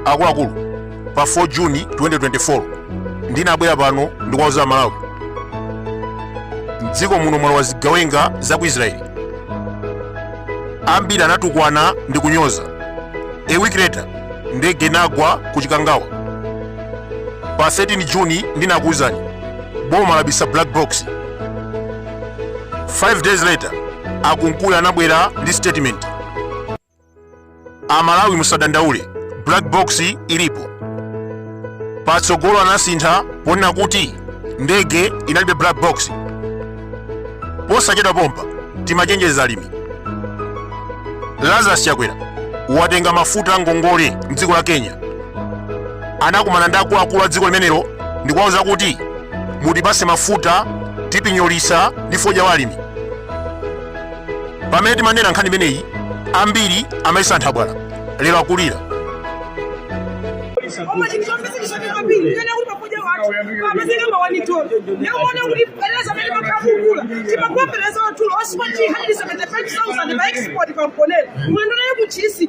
akuluakulu pa 4 juni 2024 ndinabwera pano ndikuwauza amalawi mdziko muno mwalowa zigawenga za ku israeli ambiri anatukwana ndi kunyoza a week later ndege inagwa ku chikangawa pa 13 juni ndinakuwuzani boma labisa black box 5 days later akunkuyu anabwera ndi statement amalawi musadandaule black box ilipo patsogolo anasintha ponena kuti ndege inalibe black box posachedwa pompa timachenjeza alimi lazarus chakwera watenga mafuta angongole mdziko la kenya anakumana ndi akuluakulu a dziko limenero ndikuwauza kuti mutipatse mafuta tipinyolitsa ndi fodya wa alimi pamene timanena nkhani imeneyi ambiri amayesa nthabwala lero akulira timakuwapeleza wathulo osipati 175 000 pa export pamponera mwendo naye kuchisi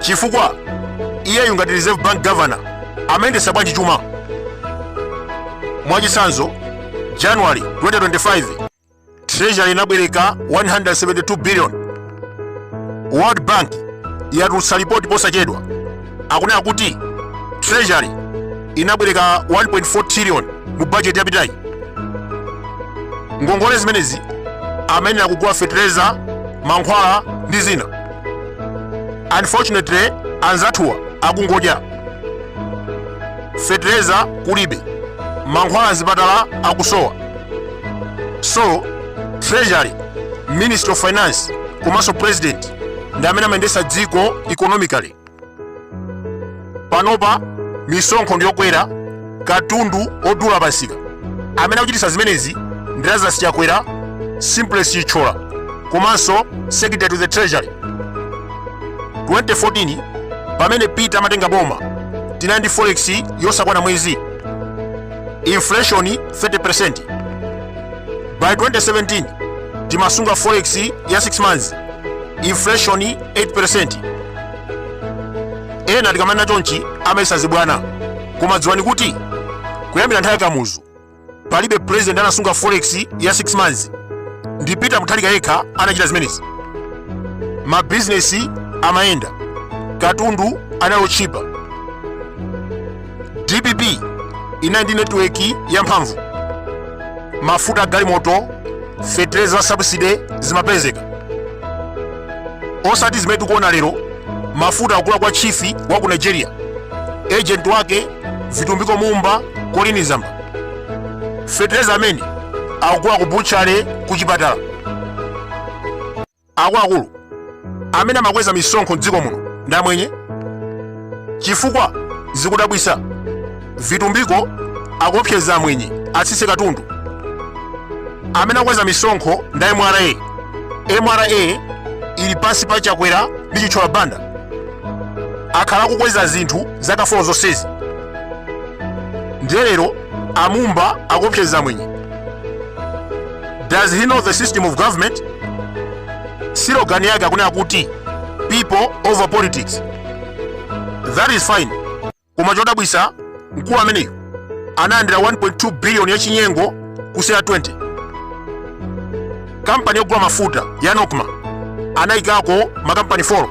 chifukwa iyeyu ngati reserve bank governor amayendetsa bwanji chuma mwachitsanzo january 2025 treasury inabwereka 172 billion world bank yatulutsa lipoti posachedwa akunena kuti treasury inabwereka 1.4 trillion mu bajeti yapitayi ngongole zimenezi amayenera kugula fetereza mankhwala ndi zina unfortunately anzathuwa akungodya fetereza kulibe mankhwala mzipatala akusowa so treasury ministry of finance komanso president ndi amene amayendetsa dziko economically panopa misonkho ndiyokwera katundu odula pamsika amene akuchititsa zimenezi ndi lazarus chakwera simplex chithyola komanso secretary to the treasury 2014 pamene peter amatenga boma tinali ndi forex yosakwana mwezi inflation 30% by 2017 timasunga forex ya 6 months inflation 8% ena tikamanena chonchi amayesa zibwana koma dziwani kuti kuyambira nthawi ya kamuzu palibe president anasunga forex ya 6 months ndi peter mutharika yekha anachita zimenezi mabizinesi amayenda katundu anali otchipa dpp inali ndi netiweki yamphamvu mafuta agalimoto fetereza subsidy zimapezeka osati zimene tikuona lero mafuta akugula kwa chifi wa ku nigeria agent wake vitumbiko mumba kolini zamba fetereza amene akugula ku buchale ku chipatala Akuluakulu amene amakweza misonkho m'dziko muno ndi amwenye chifukwa zikudabwisa vitumbiko akuopseza amwenye atsitse katundu amene akweza misonkho ndi mra mra ili pansi pa chakwera ndi chitchola banda akhala akukweza zinthu zaka 4 zonsezi ndiye lero amumba akuopseza amwenye does he know the system of government silogani yake akunena kuti people over politics that is fine koma chodabwisa mkulu ameneyo analandira 1.2 billion ya chinyengo kusera 20 kampani yogula mafuta ya nokma anayikako makampani 4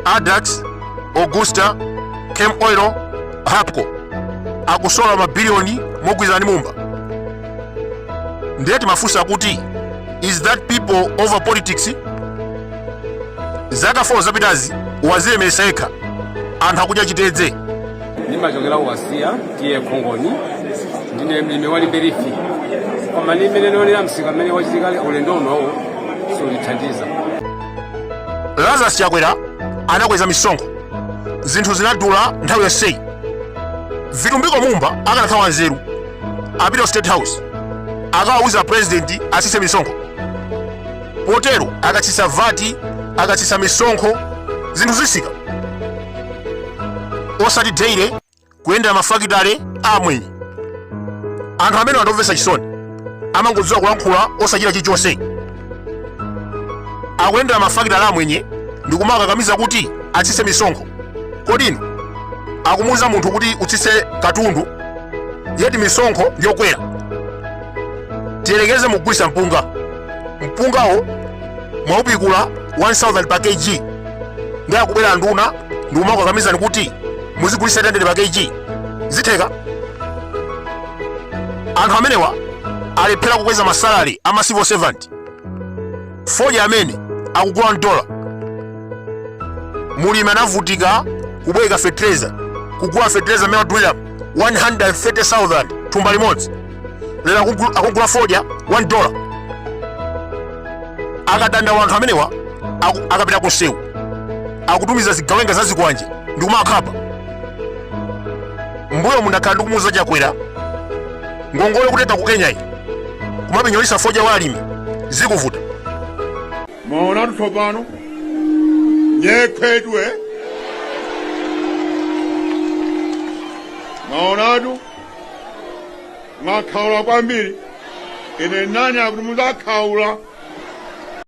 adax augusta cam oil hapco akusola mabiliyoni mogwirizana ndi mumba ndiye timafunsa kuti is that people over politics zaka 4 zapitazi wazilemeresa yekha anthu akudya chitedze ndimachokera kuwasiya tiye khongoni ndine mlimi wa limberifi koma ndi mmene ndionera msika mmene wachitikira ulendo unowu siutithandiza lazarus chakwera anakweza misonkho zinthu zinadula nthawi yonseyi vitumbiko mumba akanakhala wanzeru apita ku state house akawauza purezidenti asise misonkho potero akatsisa vati akatsisa misonkho zinthu zisika osati daily kuyendera mafakitale a amwenye anthu amene akundimvetsa chisoni amangodziwa kulankhula osachita chilichonse akuyendera mafakitale a amwenye ndi kumakakamiza kuti atsitse misonkho kodi inu akumuuza munthu kuti utsitse katundu yeti misonkho ndiyokwera tiyerekeze mukugulitsa mpunga mpungawo mwaupikula 1000 pa kg ndiye akubwera nduna ndikumakukakamizani kuti muzigulitsa 800 pa kg zitheka anthu amenewa alephera kukweza masalari a ma civil servant fodya amene akugula mdola mulimi anavutika kubweka fetereza kugula fetereza mmene wadulira 130000 thumba limodzi lero akugula fodya 1 dollar akadandaula wanthu amenewa aku- akapita kumsewu akutumiza zigawenga za zikwanje ndi kumakhapa mbuyo mundakhala ndikumuuza chakwera ngongole kutenga ku Kenyayi kumapinyolitsa fodya wa alimi zikuvuta mwaonatu tsopano nyekhwedwe mwaonatu mwakhaula kwambiri ine nani akuti muzakhaula